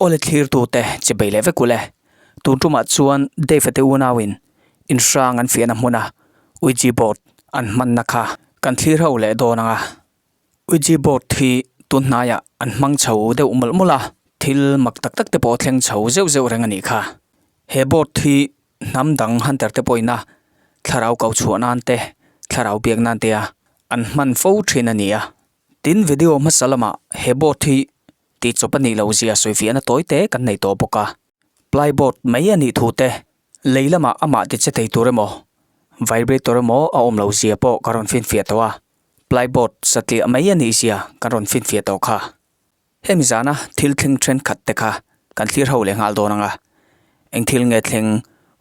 Aw le thlirtute, che bei leh vek u le. Tun tumah chuan Dave-a te unauin inhrang an fiahna hmuna Ouija board an hmanna kha kan thlir hauh leh dawn ang a. Ouija board hi tun hnaiah an hmang chho deuh mawlh mawlh a, thil mak tak tak te pawh thleng chho zeuh zeuh reng a nih kha. He board hi hnam dang hunter te pawhin a thlarau ko chhuah nan te, thlarau biak nan tea an hman fo thin a ni a. Tin, video hmasa lamah he boat hi tihchawp a nih loh zia sawifiah na tawi te kan nei tawh bawk a. Ply boat mai a nih thu te, lei lamah amah ti che thei tur emaw, vibrator emaw a awm lo zia pawh kan rawn finfiah tawh a, ply boat satliah mai a nih zia kan rawn finfiah tawh kha. Hemi zana thil thleng thenkhat te kha kan thlir ho leh nghal dawn ang a, eng thil nge thleng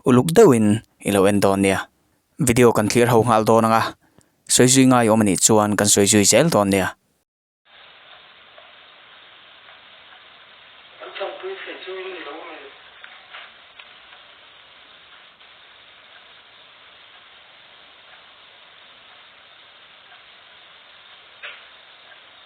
uluk deuhin i lo en dawn nia? Video kan thlir ho nghal dawn ang a, sawi zui ngai awm a nih chuan kan sawi zui zel dawn nia. Kan changpui theih chu in ni lo mai.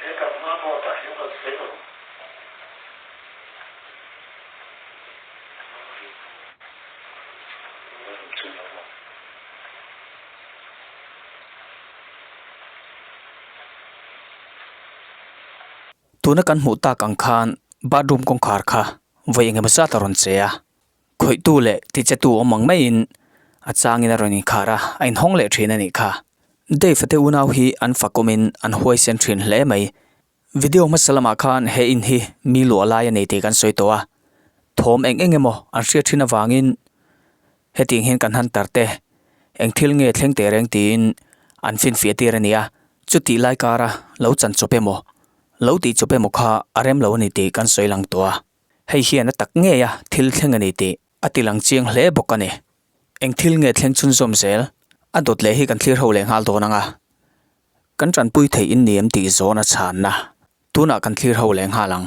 He kan hma pawh tah hian kan sawi lo. Tuna kan hmuh tak ang khan bathroom kawngkhar kha vawi eng emaw zat a rawn che a. khawihtu leh tichetu awm ang maiin a changin a rawn inkhar a, a inhawng leh thin a nih kha. Dave-a te unau hi an fa kawmin an huaisen thin hle mai. Video hmasa lamah khan he in hi mi luah lai a ni tih kan sawi tawh a, thawm eng eng emaw an hriat thin avangin hetiang hian kan han tar teh eng thil nge thleng teh reng tiin an finfiah tir a nia. Chutih lai kara lo chanchawp emaw, lo tihchawp emaw kha a rem lo a ni tih kan sawi lang tawh a. Hei hian a tak ngei a, thil thleng a ni tih a ti lang chiang hle bawk a ni. Eng thil nge thleng chhun zawm zel a dawt leh hi kan thlir ho leh nghal dawn anga kan tanpui thei in ni em tih zawn a chhan a, tunah kan thlir ho leh nghal ang.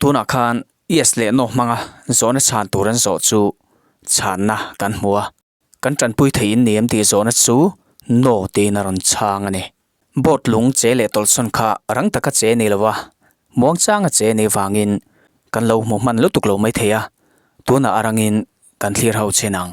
Tunah khan yes leh no hmanga zawhna chhan tur an zawh chu chhanna kan hmu a, kan tanpui theihin ni em tih zawhna chu no tiin a rawn chhang a ni. Boat lung che leh tawlhsawn kha rang taka che ni lova, muangchanga che ni vangin kan lo hmu hman lutuk lo mai thei a, tunah a rangin kan thlir ho chin ang.